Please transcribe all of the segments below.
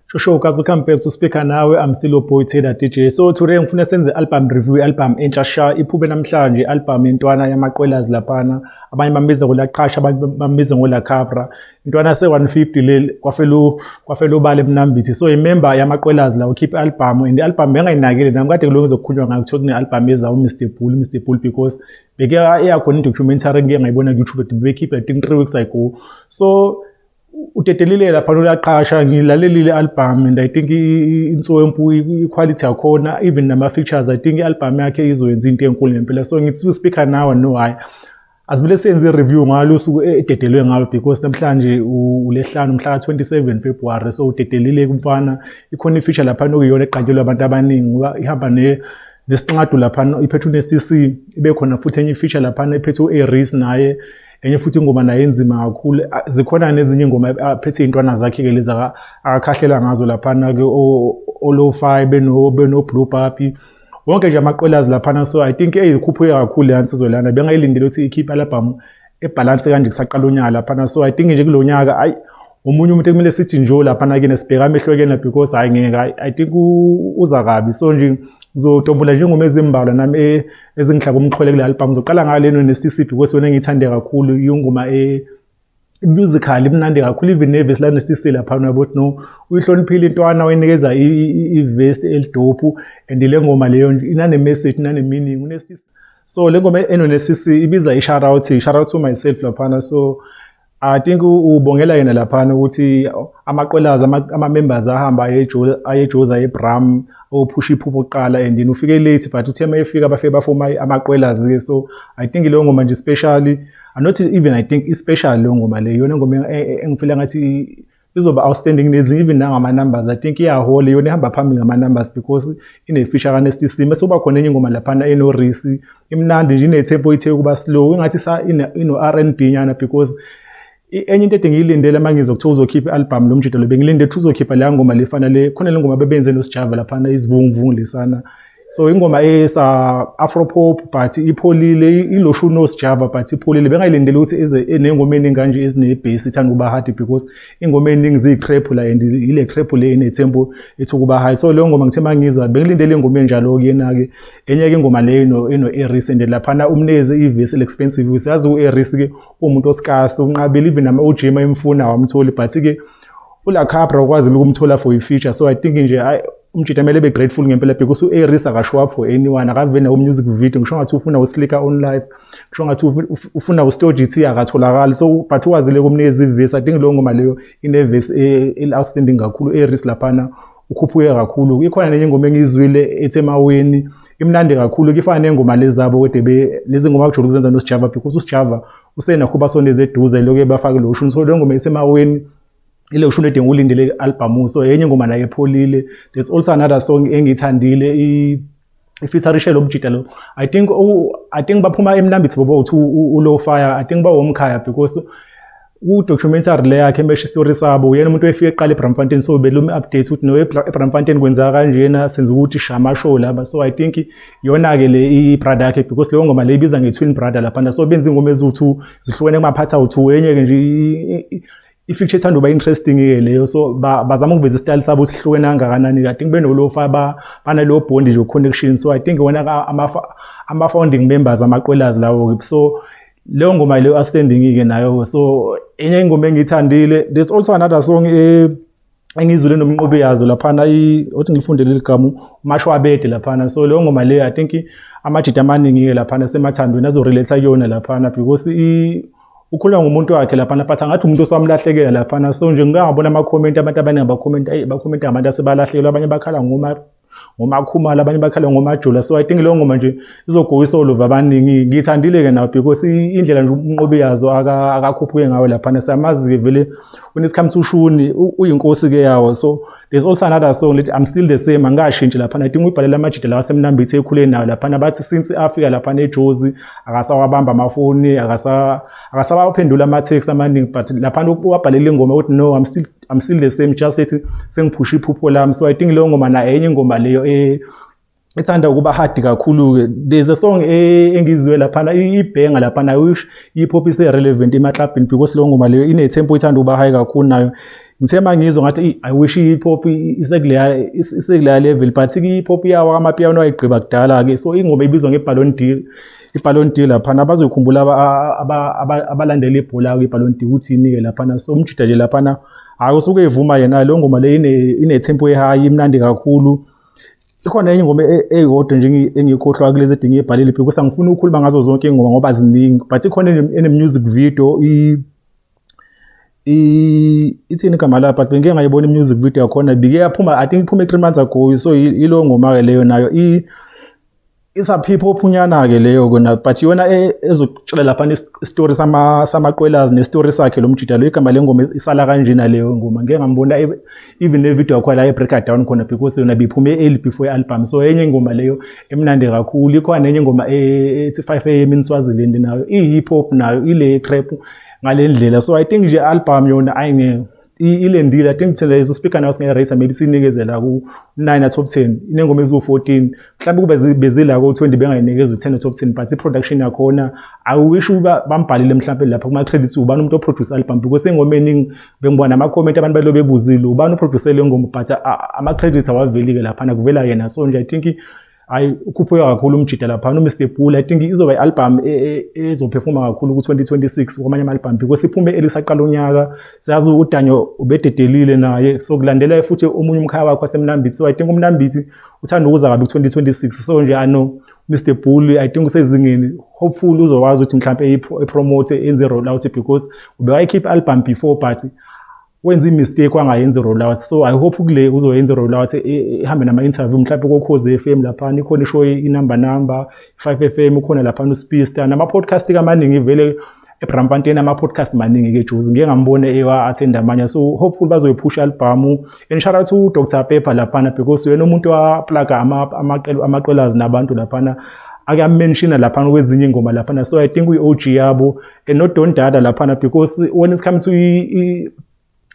Shosho kaze come back to speaker nawe I'm still a boy Taylor DJ so today ngifuna senze album review album entsha sha iphube namhlanje album yentwana yamaqwelazi laphana abanye bambiza ngolaqhasha abanye bambiza ngolakhabra intwana yase-150 leli kwafelu kwafelu ubale mnambithi so imember yamaqwelazi la ukhiphe album and album bengayinakile nami kade kulunge zokukhulunywa ngayo kuthiwa kune-album eza uMr Bull Mr Bull because beke eyakhona i-documentary ngike ngayibona ku-YouTube but bebekhipha think 3 weeks ago so udedelile lapha uyaqasha ngilalelile album and i think inswempu iquality yakhona even nama features i think i-album yakhe izoyenza into enkulu ngempela so ngithi u-speaker now no hayi Asibile senze i-review ngalo usuku e-, ededelwe ngalo because namhlanje uLehlanu mhla ka-27 February so udedelile kumfana ikhona i-feature lapha nokuyona eqatshelwe abantu abaningi ngoba ihamba ne nesinqadu lapha iphethwe ne-CC ibe khona futhi enye i-feature lapha ephethwe u-Aries naye enye futhi ingoma nayo enzima kakhulu zikhona nezinye ingoma aphethe iy'ntwana zakhe-ke lezi akakhahlela ngazo laphana-ke olofayi benoblue papi wonke nje amaqwelazi laphana so i think eyikhuphuke kakhulu le yansizwe lana bengayilindele ukuthi ikhiphe alabhamu ebhalansi kanje kusaqala unyaka laphana so i think nje kulo nyaka ayi omunye umuntu ekumele sithi njo laphana kena sibheka amehlo kena because hayi ngeke i think uza kabi so nje ngizotombula njengoma ezimbalwa nami e, ezingihlaka umxhwele kule albhamu ngizoqala ngayo leno ne-cc because yona engiyithande kakhulu yingoma e, musical imnandi kakhulu even nevesi lanesisi laphana uyabo ukuthi no uyihloniphile intwana wayinikeza ivest elidophu and le ngoma leyo inanemessage inanemeaning unesisi so le ngoma enonesisi ibiza isharout isharout to myself laphana so I think ubongela yena laphana ukuthi amaqwelazi ama-members ahamba ayejoza ayebrahm ophusha iphupho kuqala and then ufike late but uthe uma efika bafike bafoma amaqwelazi-ke so i think leyo ngoma nje especially I'm not even I think i-special leyo ngoma leyo yona ngoma e, e, engifila ngathi izoba outstanding nezinye even nangama numbers i think iyahola yona ihamba phambili ngama numbers because ine feature ka Nasty Sima soba khona enye ingoma laphana eno Risi imnandi nje ine tempo ithe ukuba slow ingathi sa ino R&B nyana because enye into ede ngiyilindele uma ngizokuthiwa uzokhipha i-albhamu lo mjito lo bengilinde ukuthi uzokhipha leya ngoma lefana le khona le ngoma bebenze nosijava laphana izivunguvungu lesana um so ingoma esa afro pop but ipholile iloshu no sjava but ipholile bengayilindele ukuthi ize enengoma eningi kanje ezine bass ithanda ukuba hard because ingoma eningi zi crap la and ile crap le ine tempo ethi ukuba high so leyo ngoma ngithe mangizwa bengilindele ingoma enjalo kuyena ke enye ke ingoma leyo ino eno eris and lapha na umneze ivis expensive usiyazi ueris ke umuntu osikasi unqabile even ama ujima emfuna awamtholi but ke ula Capra ukwazile ukumthola for i feature so i think nje ay umjita mele be grateful ngempela because u Aries aka show up for anyone akavene ku music video ngisho ngathi ufuna uslika on live ngisho ngathi ufuna u Story GT akatholakali so but ukwazile kumnika izivesi i think lo ngoma leyo ine verse e, e outstanding kakhulu Aries laphana ukhuphuke kakhulu ikhona nenye ingoma engizwile ethe maweni imnandi kakhulu kifana nengoma lezabo kodwa lezi ngoma kujula ukuzenza noSjava because uSjava usenakho ubasondeza eduze lokho ebafake lo shuni so le ngoma isemaweni ile shuni edinga ulindele album so yenye ngoma nayo epholile there's also another song engithandile i ifisa rishelo ubujita lo i think u, i think baphuma emnambithi bobo uthi ulow fire i think bawomkhaya because udocumentary le yakhe emesha istory sabo uyena umuntu oyefika eqala eBramfontein so belumi update ukuthi no eBramfontein kwenzeka kanjena senza ukuthi shama show laba so i think yona-ke le ibrada yakhe because leyo ngoma le ibiza nge-twin brother laphana so benza ingoma eziwu-two zihlukene kumaphathi awu-two enye-ke nje i-feature ethanda uba interesting-ke leyo so bazama ukuveza isitayile sabo sihlukene kangakanani i think benolofa banaleyo bond nje connection so i think wona ama-founding members amaqwelazi lawo-ke so leyo ngoma leyo asendingi-ke nayo-ke so enye ingoma engiyithandile there's also another song eh, engizwile nomnqobi yazo laphana othi ngilifundele leli gama umashwabede laphana so leyo ngoma leyo i think amajita amaningi-ke laphana semathandweni azorelate kuyona laphana because ukhuluma ngomuntu wakhe laphana but angathi umuntu osewamlahlekela laphana so nje ngikangabona amakhomenti abantu abaningi abakhomenti ayi bakhomenti ngabantu asebalahlekelwa abanye bakhala ngoma ngomakhumalo abanye bakhala ngomajula so i think leyo ngoma nje izogowisa oluva abaningi ngiyithandile-ke nawo because indlela nje umnqobi yazo akakhuphuke ngayo laphana siyamazi-ke vele unesikhamuthi ushuni uyinkosi-ke yawo so there's also another song lithi i'm still the same angikashintshi laphana i think uyibhalela amajida lawa asemnambithi ekhule nayo laphana bathi since afika laphana ejozi akasawabamba amafoni akasabaphendula ama-text amaningi but laphana wabhalela ingoma ukuthi no i'm still I'm still the same just ethi sengiphusha iphupho lami so I think leyo ngoma nayo enye ingoma leyo eh ethanda ukuba hard kakhulu ke there's a song e, engizwe lapha na ibhenga lapha na wish ipop ise relevant ema club in because leyo ngoma leyo ine tempo ithanda ukuba high kakhulu nayo ngithe mangizwa ngathi i wish ipop isekuleya isekuleya level but ipop yawa amapiano ayigqiba kudala ke so ingoma ibizwa ngeballon d'or iballon d'or laphana bazoyikhumbula abalandela ibhola-ke iballon d'or ukuthi inike laphana so umjida nje laphana hhayi usuke evuma yena leyo ngoma le ine-tempo ehayi imnandi kakhulu ikhona enye ingoma e-, eyodwa nje engiyikhohlwa kulezi edinga ibhalile phi kusa ngifuna ukukhuluma ngazo zonke iy'ngoma ngoba ziningi but ikhona ene-music video ithini igama layo but bengike ngayibona i-music video yakhona bike yaphuma i think iphume three months ago so yileyo ngoma-ke leyo nayo It's a people ophunyana ke leyo kona but yona e, ezokutshela lapha istory sama samaqwelazi nestory sakhe lo mjida lo igama lengoma isala kanjena leyo ngoma ngeke ngambona e, even ne video yakho la e breaker down khona because yona biphume early before album so enye ingoma leyo emnandi kakhulu ikhona enye ingoma e, ethi 5 am in Swaziland nayo i hip hop nayo ile trap ngalendlela so i think nje album yona ayingeke ilendile i think thina lezo speaker nawo singeke race maybe sinikezela ku 9 top 10 inengoma ezu 14 mhlawumbe kube bezila ko 20 bengayinikeza u 10 top 10 but i production yakhona i wish uba bambhalile mhlawumbe lapha kuma credits ubani umuntu o produce album because ingoma eningi bengibona ama comment abantu balo bebuzile ubani o producer le ngoma but ama credits awaveli ke lapha nakuvela yena so nje i think hayi ukhuphuka kakhulu umjida lapha no Mr Bull i think izoba i-album e, e, e, ezophefuma kakhulu ku-2026 kwamanye ama-album because iphume elisaqala unyaka siyazi udanyo ubededelile naye so kulandela futhi omunye umkhaya wakho wasemnambithi so i think umnambithi uthanda ukuza kabi ku-2026 so nje ano Mr Bull i think usezingeni hopefully uzokwazi ukuthi mhlawumbe epromote enze roll out because ubewayikhipha album before but wenza imistake wangayenza i-rollout so i hope ukule uzoyenza i-rollout ihambe nama-interview mhlawumpe kokhozi f m laphana ikhona ishow inumber number i-five f m ukhona laphana uspista nama-podcast-ke amaningi vele ebrampanteni ama-podcast maningi-ke juzi ngike ngambona ewa-athenda amanye so hopefully bazoyiphusha albhamu and shout out to dr pepper laphana because uyena umuntu waplaga amaqelazi nabantu laphana akuyamenshina laphana kwezinye ingoma laphana so i think uyi-og yabo enodon dada laphana because when it's coming to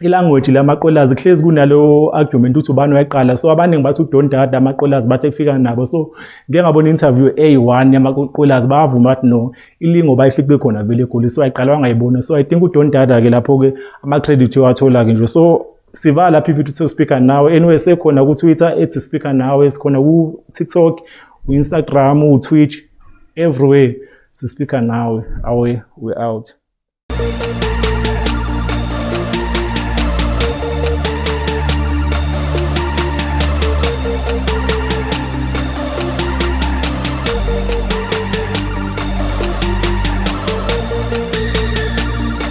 ilanguage lamaqolazi kuhlezi kunalo argument ukuthi ubani wayaqala so abaningi bathi udon dada amaqolazi bathe kufika nabo so ngeke ngabona interview a1 yamaqolazi bavuma bathi no ilingo bayifikwe khona vele egoli so ayiqalwa ngayibona so i think udon dada ke lapho ke ama credit ewathola ke nje so siva lapha ivideo uthe speaker nawe anyway sekhona ku Twitter ethi speaker nawe sikhona ku TikTok u Instagram u Twitch everywhere si speaker nawe awe we out